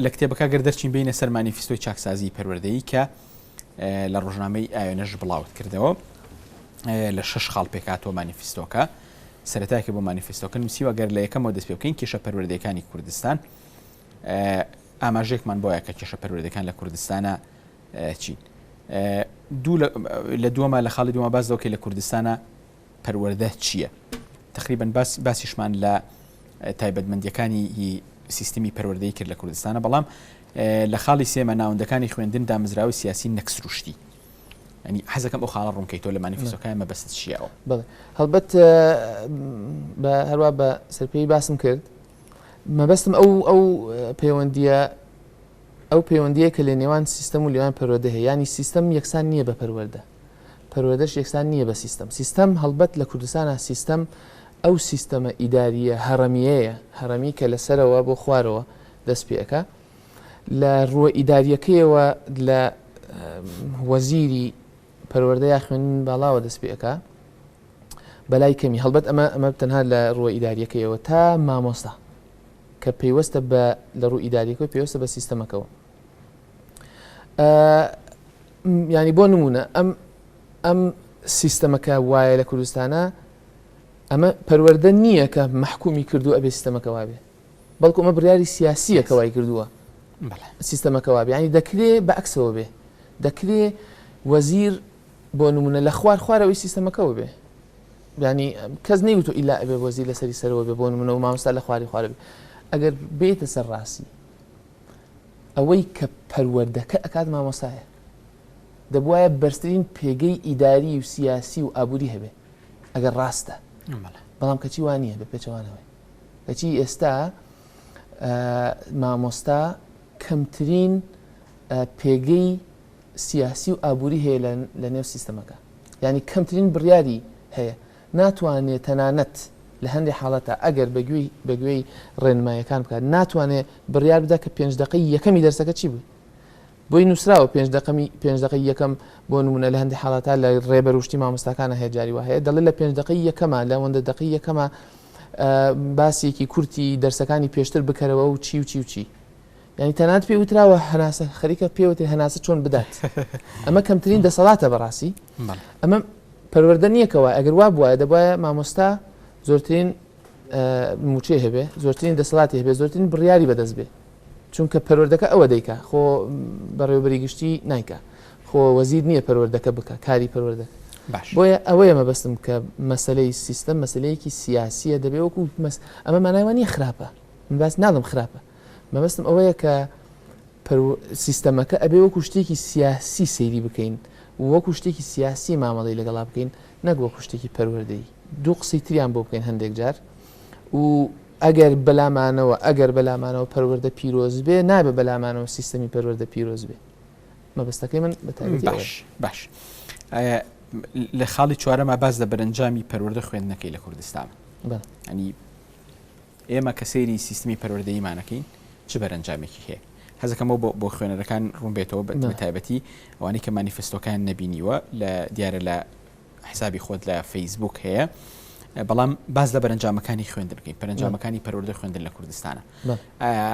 لە کتێبەکە گەر دەرچین بینە سەر مانیفستۆی چاکسازی پەروەردەیی کە لە ڕۆژنامەی ئاوێنەش بڵاوت کردەوە لە شش خاڵ پێکاتەوە مانیفستۆکە سەرتاکە بۆ مانیفستۆکە نووسیوە گەر لە یەکەمەوە دەست پێ بکەین کێشە پەروەردەکانی کوردستان ئاماژێکمان بۆیە کە کێشە پەروەردەکان لە کوردستانە چین دوو لە دووەمە لە خاڵی دووە باز دەکەی لە کوردستانە پەروەردە چییە؟ تەقریبەن باس باسیشمان لە تایبەتمەندیەکانی سیستمی پەروەردەی کرد لە کوردستانە بەڵام لە خاڵی سێمە ناوەندەکانی خوێندن دامزراوی سیاسی نەکسروشتی ینی حەزەکەم ئەو خاڵە ڕوونکەی تۆ لە مانیفستۆکان مە بەست شیەوە بڵێ هەڵبەت بە هەروە بە سەرپێی باسم کرد مەبەستم ئەو ئەو پەیوەندیە ئەو پەیوەندیە کە لە نێوان سیستم و لێوان پەروەدە هەیە ینی سیستم یەکسان نییە بە پەروەەردە پەروەردەش یەکسان نییە بە سیستەم. سیستەم هەڵبەت لە کوردستانا سیستەم ئەو سیستەمە ئیدارییە هەڕەمییەیە، هەڕەمی کە لە سەرەوە بۆ خوارەوە دەست پێ ئەکا. لە ڕووە ئیدارییەکەیەوە لە وەزیری پەروەردە یا خوێندنی باڵاوە دەست پێ ئەکا بە لای کەمی. هەڵبەت ئەمە ئەمە تەنها لە ڕووە ئیدارییەکەیەوە تا مامۆستا کە پەیوەستە بە لە ڕوو ئیدارییەکەوە پێوەستە بە سیستەمەکەوە. ینی بۆ نمونە ئەم ئەم سیستەمەکە وایە لە کوردستانە ئەمە پەروەەردە نییە کە مححکومی کردو ئەبێ سیستەمەکە وابێ بەڵکو ئەمە بریاری سیاسیە کە وای کردووە سیستەمەکە وابێ ینی دەکرێ بە ئەکسەوە بێ دەکرێ وەزیر بۆ نمونە لە خوار خوارەوەی سیستەمەکەەوە بێ ینی کەس نەیوتو ئیلا ئەبێ وەزیر لەسەری سەرەوە بێ بۆ نمونە و مامستا لە خواری خوارە بێ ئەگەر بێتە سەر ڕاستی ئەوەی کە پەروەردەکە ئەکات مامۆستایە. دەبوایە بەرزترین پێگەی ئیداری و سیاسی و ئابووری هەبێ ئەگەر ڕاستە. بەڵام کەچی وا نییە بە پێچەوانەوەی. کەچی ئێستا مامۆستا کەمترین پێگەی سیاسی و ئابووری هەیە لە نێو سیستەمەکە. ینی کەمترین بڕیاری هەیە ناتوانێ تەنانەت لە هەندێ حاڵەتا ئەگەر بە گوێی بە گوێی ڕێنماییەکان بکات ناتوانێ بڕیار بدا کە پێنج دەقەی یەکەمی دەرسەکە چی بووی بۆی نووسراوە پێنج دەقەمی پێنج دەقەی یەکەم بۆ نموونە لە هەندێ حاڵەتا لە ڕێبەر و شتی مامۆستاکانە هەیە جاری وا هەیە دەڵێ لە پێنج دەقەی یەکەما لە ئەوەندە دەقەی یەکەما باسێکی کورتی دەرسەکانی پێشتر بکەرەوە و چی و چی و چی یانی تەنانەت پێی وتراوە هەناسە خەریکە پێی وترێ هەناسە چۆن بدات ئەمە کەمترین دەسەڵاتە بەڕاستی ئەمە پەروەردە نییە کەەوە ئەگەر وا بواە دەبواە مامۆستا زۆرترین موچێ هەبێ زۆرترین دەسەڵاتی هەبێ زۆرترین بڕیاری بەدەست بێ چونکە پەروەردەکە ئەوە دەیکا خۆ بەڕێوبەری گشتی نایکە خۆ وەزیر نییە پەروەردەکە بکە کاری پەروەردە باش بۆیە ئەوەیە مەبەستم کە مەسلەی سیستم مەسلەیەکی سیاسیە دەبێ وەکو مەس ئەمە مانایوانی خراپە من باس ناڵم خراپە مەبەستم ئەوەیە کە پرو سیستەمەکە ئەبێ وەکو شتێکی سیاسی سەیری بکەین و وەکو شتێکی سیاسی مامەڵەی لەگەڵا بکەین نەک وەکو شتێکی پەروەردەیی دوو قسەی تریان بۆ بکەین هەندێک جار و ئەگەر بەلامانەوە ئەگەر بەلامانەوە پەروەردە پیرۆز بێ نابێ بەلامانەوە سیستەمی پەروەردە پیرۆز بێ مەبەستەکەی من بە تایبەتی ئەوەیە. باش باش ئایا لە خاڵی چوارەما باس لە بەرەنجامی پەروەردە خوێندنەکەی لە کوردستان بە بله ئەنی ئێمە کە سەیری سیستمی پەروەردەییمان ئەکەین چ بەرەنجامێکی هەیە؟ حەزەکەم ئەو بۆ خوێنەرەکان ڕوون بێتەوە بە تایبەتی ئەوانەی کە مانیفستۆکەیان نەبینیوە لە دیارە لە حسابی خۆت لە فەیسبووک هەیە بەڵام باز لە بەرەنجامەکانی خوێندن بکەین پەرەنجامەکانی پەروەردە خوێندن لە کوردستانە ئایا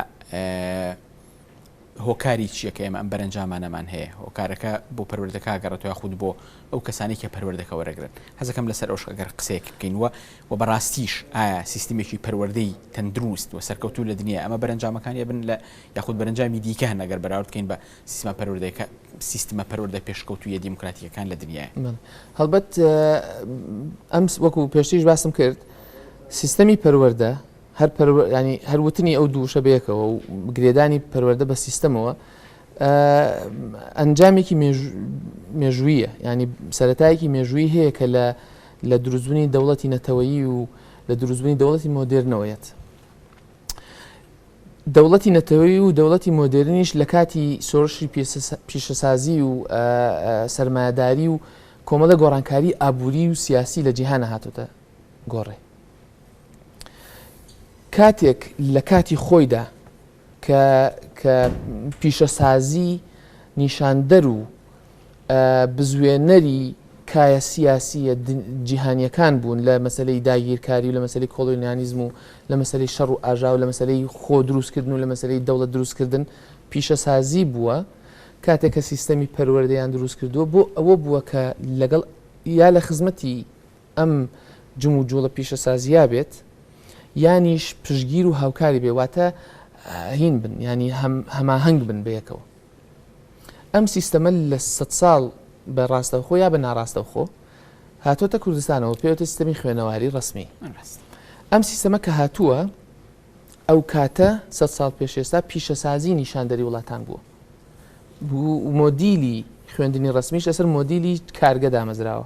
هۆکاری چیە کە ئێمە ئەم بەرەنجامانەمان هەیە؟ هۆکارەکە بۆ پەروەردەکە ئاگەڕێتەوە یاخود بۆ ئەو کەسانەی کە پەروەردەکە وەرەگرن؟ هەزەکەم لەسەر ئەوش ئەگەر قسەیەک بکەین وە وە بەڕاستیش ئایا سیستمێکی پەروەردەی تەندروست وە سەرکەوتوو لە دنیا ئەمە بەرەنجامەکانی ئەبن لە یاخود بەرەنجامی دیکە هەن ئەگەر بەراورد بکەین بە سیستمە پەروەردەکە سیستمە پەروەردە پێشکەوتوویە دیموکراتیکەکان لە دنیای؟ هەڵبەت ئەم وەکو پێشتریش باسم کرد سیستەمی پەروەردە هەر پەروە یانی هەر وتنی ئەو دوو وشە بەیەکەوە و گرێدانی پەروەردە بە سیستەمەوە ئە ئەنجامێکی مێژو مێژوویە یانی سەرەتایەکی مێژووی هەیە کە لە لە دروستبوونی دەوڵەتی نەتەوەیی و لە دروستبوونی دەوڵەتی مۆدێرنەوە یەت دەوڵەتی نەتەوەی و دەوڵەتی مۆدێرنیش لە کاتی سۆرشی پیسە سە پیشەسازی و ئە ئە سەرمایەداری و کۆمەڵە گۆڕانکاری ئابووری و سیاسی لە جیهانە هاتوتە گۆڕێ کاتێک لە کاتی خۆیدا کە کە پیشەسازی نیشاندەر و بزوێنەری کایە سیاسییە جیهانییەکان بوون لە مەسلەی داگیرکاری و لە مەسلی کۆلۆنیانیزم و لە مەسلەی شەڕ و ئاژا و لە مەسلەی خۆ دروستکردن و لە مەسلەی دەوڵەت دروستکردن پیشەسازی بووە کاتێک کە سیستەمی پەروەردەیان دروست کردووە بۆ ئەوە بووە کە لەگەڵ یا لە خزمەتی ئەم جموجوڵە پیشەسازییە بێت، یانیش پشتگیر و هاوکاری بێت، واتە هین بن، یانی هەماهەنگ بن بەیەکەوە. ئەم سیستەمە لە سەد ساڵ بە ڕاستەوخۆ یا بە ناڕاستەوخۆ هاتۆتە کوردستانەوە، پێوتە سیستەمی خوێنەواری ڕەسمی. ئەم سیستەمە کە هاتووە، ئەو کاتە سەد ساڵ پێش ئێستا پیشەسازی نیشاندەری وڵاتان بووە. مۆدیلی خوێندنی ڕەسمیش لەسەر مۆدیلی کارگە دامەزراوە.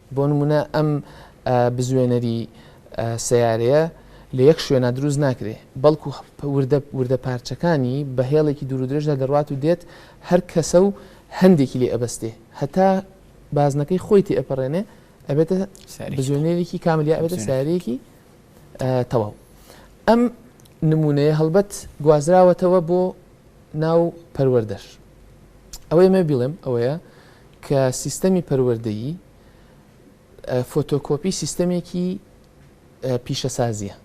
بۆ نموونە ئەم بزوێنەری سەیارەیە لە یەک شوێنا دروست ناکرێ، بەڵکو وردە وردە پارچەکانی بە هێڵێکی دوورودرێژدا دەڕوات و دێت هەر کەسە و هەندێکی لێ ئەبەستێ هەتا بازنەکەی خۆی تێئەپەڕێنێ ئەبێتە بزوێنەرێکی کامل یا ئەبێتە سارەیەکی تەواو ئەم نمونەیە هەڵبەت گوازراوەتەوە بۆ ناو پەروەردەش ئەوەی مێ بڵێم ئەوەیە کە سیستەمی پەروەردەیی فۆتۆکۆپی سیستەمێکی پیشەسازییە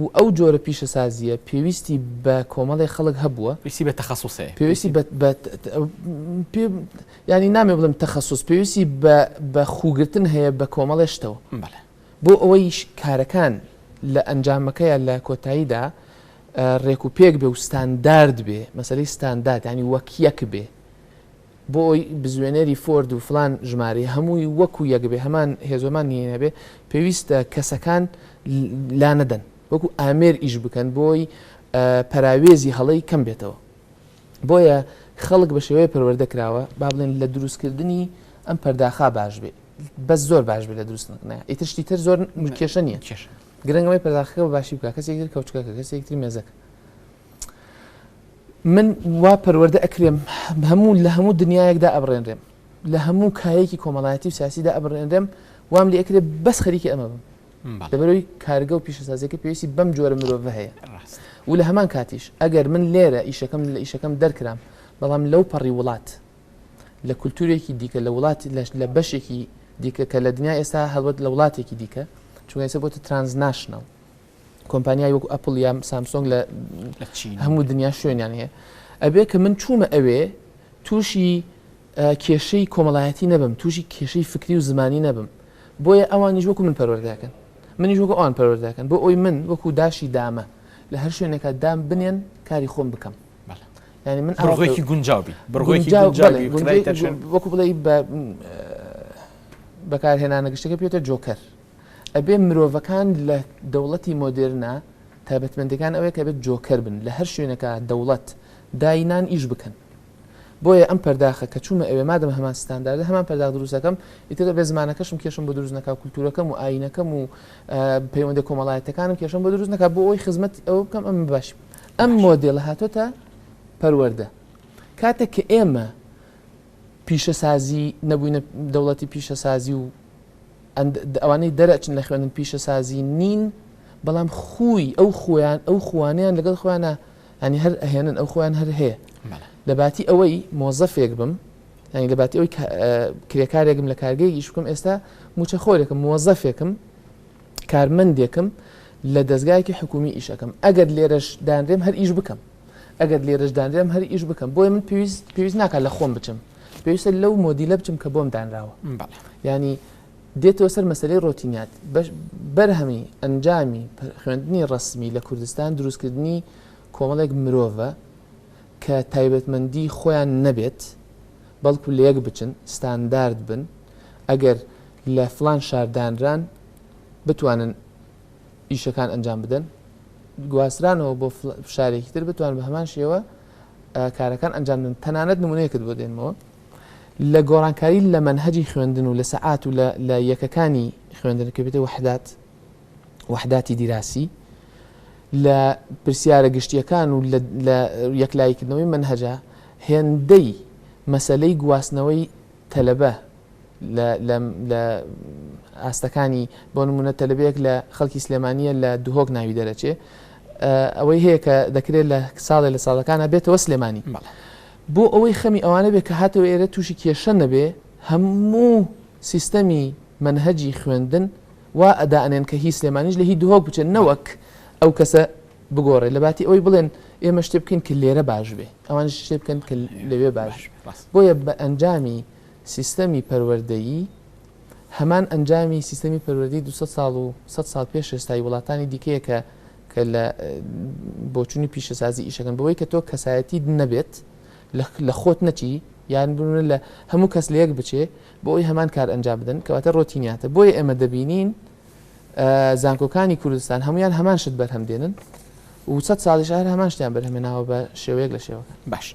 و ئەو جۆرە پیشەسازییە پێویستی بە کۆمەڵی خەڵک هەبووە پێویستی بە تەخەسوسێ پێویستی ینی نامێ بڵم تەخەسوس پێویستی بە خوگرتن هەیە بە کۆمەڵێشتەوە بۆ ئەوەی کارەکان لە ئەنجامەکەیان لە کۆتاییدا ڕێک و پێک بێ و ستاندارد بێ مەسلەی ستاندارد ینی وەک یەک بێ بۆ ئەوەی بزوێنەری فۆرد و فلان ژمارەی هەمووی وەکو یەک بێ هەمان هێزۆمان نیە نەبێ پێویستە کەسەکان لا نەدەن وەکو ئامێر ئیش بکەن بۆی پەراوێزی هەڵەی کەم بێتەوە بۆیە خەڵک بە شێوەیە پەروەردە کراوە با بڵێن لە دروستکردنی ئەم پەرداخا باش بێ بەس زۆر باش بێ لە دروست نکنە ئیتر شتی تر زۆر کێشە نیە کێش گرنگەوەی پەرداخەکە باشی بکە کەسێک تر کەوتکەکە کەسێکتری مێزەکە من وا پەروەردە ئەکرێم، هەموو لە هەموو دنیایەکدا ئەبڕێنرێم، لە هەموو کایەیەکی کۆمەڵایەتی و سیاسیدا ئەبڕێنرێم، وام لێ ئەکرێ بەس خەریکی ئەمە بم، لەبەرئەوەی کارگە و پیشەسازییەکە پێویستی بەم جۆرە مرۆڤە هەیە و لە هەمان کاتیش ئەگەر من لێرە ئیشەکەم لە ئیشەکەم دەرکرام، بەڵام لەو پەڕی وڵات، لە کولتوورێکی دیکە، لە وڵات، لە بەشێکی دیکە کە لە دنیای ئێستا هەڵبەت لە وڵاتێکی دیکە، چونکە ئێستا بۆتە ترانزناشناڵ، کۆمپانیای وەکو ئەپل یا سامسۆنگ لە هەموو دنیا شوێنیان هەیە ئەبێ کە من چوومە ئەوێ تووشی کێشەی کۆمەڵایەتی نەبم تووشی کێشەی فکری و زمانی نەبم بۆیە ئەوانیش وەکو من پەروەردەکەن منیش وەکو ئەوان پەروەردەکەن بۆ ئەوی من وەکو داشی دامە لە هەر شوێنێکە دام بنێن کاری خۆم بکەم ینی من ئەڕۆێکی گونجاوبی بڕۆێکی وەکو بڵێ بەکارهێنانە گشتەکە پێێتە جۆکەر ئەبێ مرۆڤەکان لە دەوڵەتی مۆدێرنە تایبەتمەندیەکان ئەوەیە کە ئەبێت جۆکەر بن لە هەر شوێنێکا دەوڵەت داینان ئیش بکەن بۆیە ئەم پەرداخە کە چوومە ئەوێ مادەم هەمان ستانداردە هەمان پەرداخ دروست دەکەم ئیتر ئەبێ زمانەکەشم کێشم بۆ دروست نەکا کولتوورەکەم و ئایینەکەم و پەیوەندە کۆمەڵایەتەکانم کێشم بۆ دروست نەکا بۆ ئەوی خزمەت ئەوە بکەم ئەم باش ئەم مۆدێلە هاتۆتە پەروەردە کاتێک کە ئێمە پیشەسازی نەبووینە دەوڵەتی پیشەسازی و ئەند ئەوانەی دەرئەچن لە خوێندن پیشەسازی نین بەڵام خووی ئەو خوویان ئەو خووانەیان لەگەڵ خۆیانا یانی هەر ئەهێنن ئەو خۆیان هەر هەیە لەباتی ئەوەی مۆزەفێک بم یانی لەباتی ئەوی کرێکارێکم لە کارگەی ئیش بکەم ئێستا موچە خۆرێکم مۆزەفێکم کارمەندێکم لە دەستگایەکی حکومی ئیشەکەم ئەگەر لێرەش دانرێم هەر ئیش بکەم ئەگەر لێرەش دانرێم هەر ئیش بکەم بۆیە من پێویست پێویست ناکات لە خۆم بچم پێویستە لەو مۆدیلە بچم کە بۆم دانراوە یانی دێتەوە سەر مەسلەی ڕۆتینات بەرهەمی ئەنجامی خوێندنی ڕسمی لە کوردستان دروستکردنی کۆمەڵێک مرۆڤە کە تایبەتمەندی خۆیان نەبێت بەڵکو لە یەک بچن ستاندارد بن ئەگەر لە فلان شاردانران بتوانن ئیشەکان ئەنجام بدەن گواسترانەوە بۆ شارێکی تر بتوان بە هەمان شێوە کارەکان ئەنجام دەن تەنانەت نمونەیەکت بۆ دێنمەوە لە گۆڕانکاری لە مەنهەجی خوێندن و لە سەعات و لە یەکەکانی خوێندن کە بێتە وحدات وحداتی دیراسی لە پرسیارە گشتیەکان و لە یەکلایکردنەوەی منهجە هێندەی مەسلەی گواستنەوەی تەلەبە لە لە لە ئاستەکانی بۆ نموونە تەلەبەیەک لە خەڵکی سلێمانیە لە دهۆک ناوی دەرەچێ ئەوەی هەیە کە دەکرێت لە ساڵێ لە ساڵەکانە بێتەوە سلێمانی بۆ ئەوەی خەمی ئەوانە بێ کە هاتەوە ئێرە تووشی کێشە نەبێ هەموو سیستەمی مەنهەجی خوێندن وا ئەدائەنێن کە هی سلێمانیش لە هی دهۆک بچێت نەوەک ئەو کەسە بگۆڕێت لەباتی ئەوەی بڵێن ئێمە شتێ بکەین کە لێرە باش بێ ئەوانیش شتێ بکەن کە لەوێ باش بێ بۆیە بە ئەنجامی سیستەمی پەروەردەیی هەمان ئەنجامی سیستەمی پەروەردەی دوو سەد ساڵ و سەد ساڵ پێش ئێستای وڵاتانی دیکەیە کە کە لە بۆچوونی پیشەسازی ئیشەکەن بەوەی کە تۆ کەسایەتیت نەبێت لە خۆت نەچی یان بنە لە هەموو کەس لە یەک بچێ بۆ ئەوی هەمان کار ئەنجام بدەن کەواتە ڕۆتینیاتە بۆیە ئێمە دەبینین زانکۆکانی کوردستان هەمویان هەمان شت بەرهەم دێنن و سەد ساڵیش هەر هەمان شتیان بەرهەمێناوە بە شێوەیەک لە شێوەکان. باش